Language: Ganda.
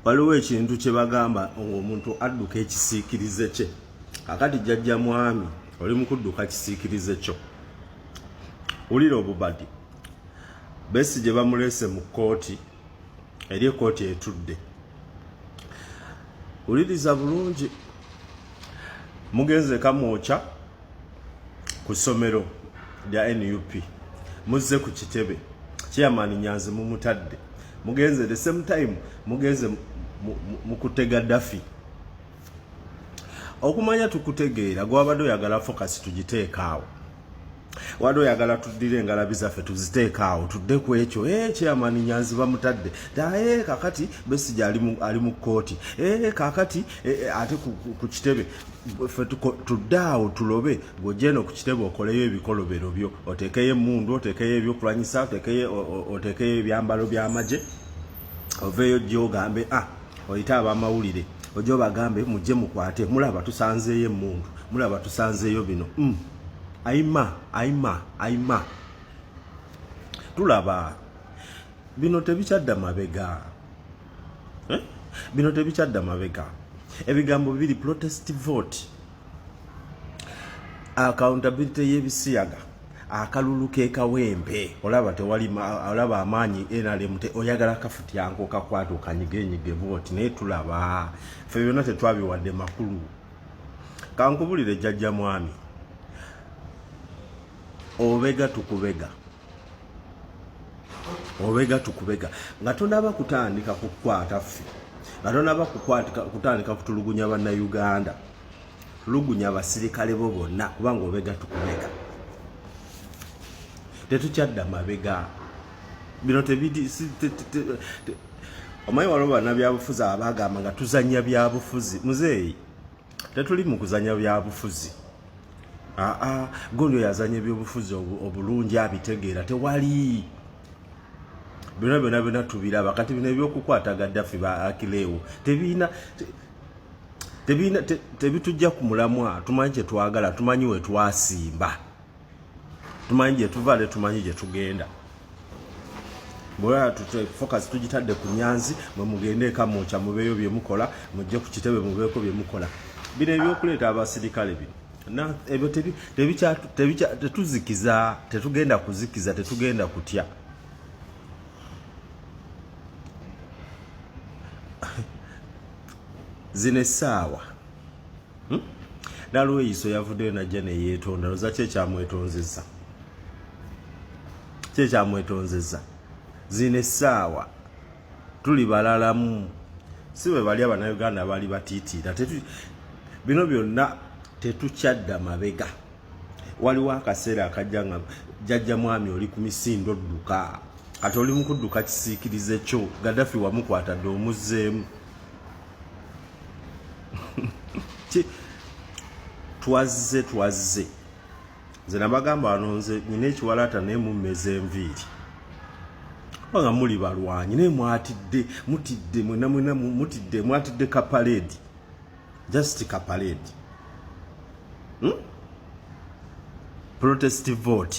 waliwo ekintu kye bagamba ng'omuntu adduka ekisiikirize kye akati jjajja mwami oli mu kudduka kisiikirize kyo wulira obubadi besi gye bamuleese mu kkooti eri ekkooti etudde wuliriza bulungi mugenze kamwokya ku ssomero lya nup muzze ku kitebe chairman nyanzi mumutadde mugenze the same time mugenze mukutte gaddafi okumanya tukutegeera gwabadde oyagala fokasi tugiteekaawo wali oyagala tuddire engalabi zaffe tuziteekaawo tudde ku ekyo e eh, chairman nyanzi bamutadde daye eh, kakati besija ali mu kkooti e eh, kakati ate ku kitebe ffe tudde awo tulobe ng'ogyenda ku kitebe okoleyo ebikolobero byo oteekeyo emmundu oteekeyo ebyokulwanyisa oteekeyo ebyambalo by'amagye oveeyo ojja ogambe a ah, oyite abamawulire ojja obagambe mujje mukwate mulaba tusanzeeyo emmundu mulaba tusanzeeyo bino mm. aima aima aima tulaba bino tebikyadda mabega eh? bino tebikyadda mabega ebigambo bibiri protest vote accountability y'ebisiyaga akalulu kekawempe olaba tewali olaba amaanyi nrm oyagala kafutyanko kakwata okanyigenyige bwoti naye tulaba fe byonna tetwabiwadde makulu kankubulire jajja mwami obega tukubega obega tukubega nga tonaba kutandika kukwata ffe nga tonaba kutandika kutulugunya bannayuganda tulugunya abasirikale bo bonna kubanga obega tukubega tetukyadda mabega bino tebidi omanyi waliwo banabyabufuzi abagamba nga tuzanya byabufuzi muzeeyi tetuli mu kuzanya byabufuzi aa ah, ah, goli oyo azanya ebyobufuzi obulungi abitegeera tewali byona byona byona tubiraba kati bino ebyokukwata gaddafi ba akileewo tebiina tebiina tebitujja ku mulamwa tumanyi kyetwagala tumanyi wetwasimba tumanyi gyetuva ne tumanyi gyetugenda bwera tutwe focus tujitadde ku nyanzi mwe mugende eka mwocha mubeyo bye mukola mujje ku kitebe mubeko bye mukola bino ebyokuleeta abasirikale bino na ebyo tebi tebi cha tebi cha tetuzikiza tetugenda kuzikiza tetugenda kutya zine sawa hmm? nalweyiso yavuddeyo najja neyetonda loza kyekyamwetonzeza kyekyamwetonzeza zino essaawa tuli balalamu si bwe bali abanauganda baali batiitiira bino byonna tetukyadda mabega waliwo akaseera akajja nga jajja mwami oli ku misindo dduka kati oli mukudduka kisiikirize kyo gadafi wamukwata dde omuzzeemu twazze twazze nze nabagamba wano nze nyina ekiwalaata naye mummeza enviiri kubanga muli balwanyi naye mwatidde mutidde mwena mwena mutidde mwatidde kapaleedi just kapaleedi hmm? protest vote